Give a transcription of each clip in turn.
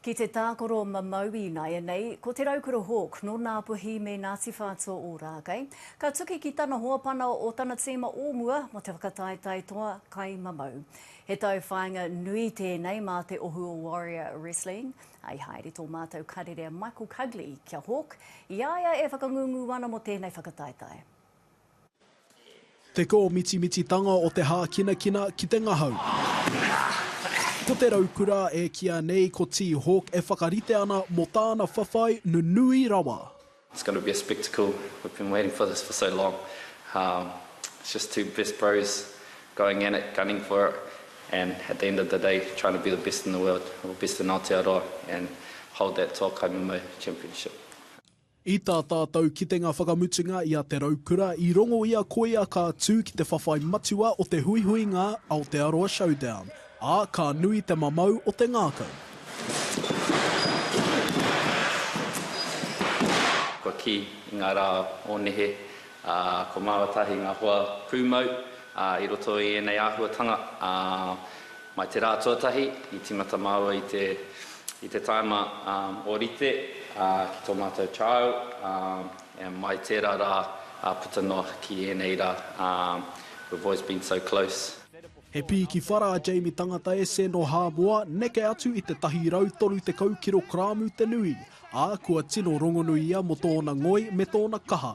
Ki te tākaro mamau ināianei, ko Te Raukura Hawke, nō Ngāpuhi me Ngāti Whātua Ōrākei, ka tuki ki tana hoa pana o tana tīma o mua mō te whakataetae toa kai mamau. He tauwhāinga nui tēnei mā te ohu o Warrior Wrestling. I haere tō mātou karere a Michael Cugley ki a Hawke, i a ia e whakangungu ana mō tēnei whakataetae. Te kōmitimititanga o te hākinakina ki te ngahau. Ko te raukura e kīa nei ko Tea Hawk e whakarite ana mō tāna whawhai nunui rawa. It's gonna be a spectacle, we've been waiting for this for so long, it's just two best bros going at it, gunning for it and at the end of the day trying to be the best in the world or best in Aotearoa and hold that Toa Kaimamau championship. I tā tātou kitenga whakamutunga i a Te Raukura, i rongo ia koia ka tū ki te whawhai matua o te huihuinga Aotearoa Showdown, ā, ka nui te mamau o te ngākau. Kua kī, i ngā rā o nehe, ā, kua māua tahi ngā hoa pūmau, ā, i roto i ēnei āhuatanga, ā, Mai te rā tuatahi i timata māua i te i te taima o rite ki tō mātou trial, and mai tērā rā puta noa ki ēnei rā, we've always been so close. He pī ki whara a Jamie Tangata Ese nō Hāmoa, neke atu i te 130 kirokramu te nui, ā, kua tino rongonui ia mō tōna ngoi me tōna kaha.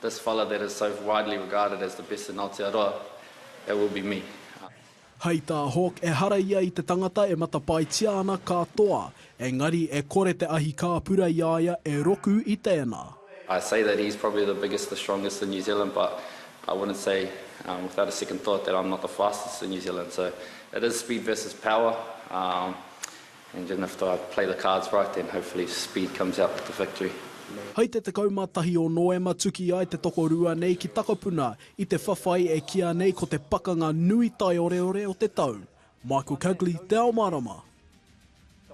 This fella that is so widely regarded as the best in Aotearoa, it will be me. Hei tā Hawke ehara ia i te tangata e matapaetia ana ka toa, engari e kore te ahi kāpura i a ia e roku i tēnā. I say that he's probably the biggest, the strongest in New Zealand but I wouldn't say without a second thought that I'm not the fastest in New Zealand so it is speed versus power And then if I play the cards right then hopefully speed comes out with the victory. Hei te 11 o Noema tuki ai te tokorua nei ki Takapuna i te whawhai e kīa nei ko te pakanga nui taioreore o te tau. Michael Cugley, Te Ao Marama.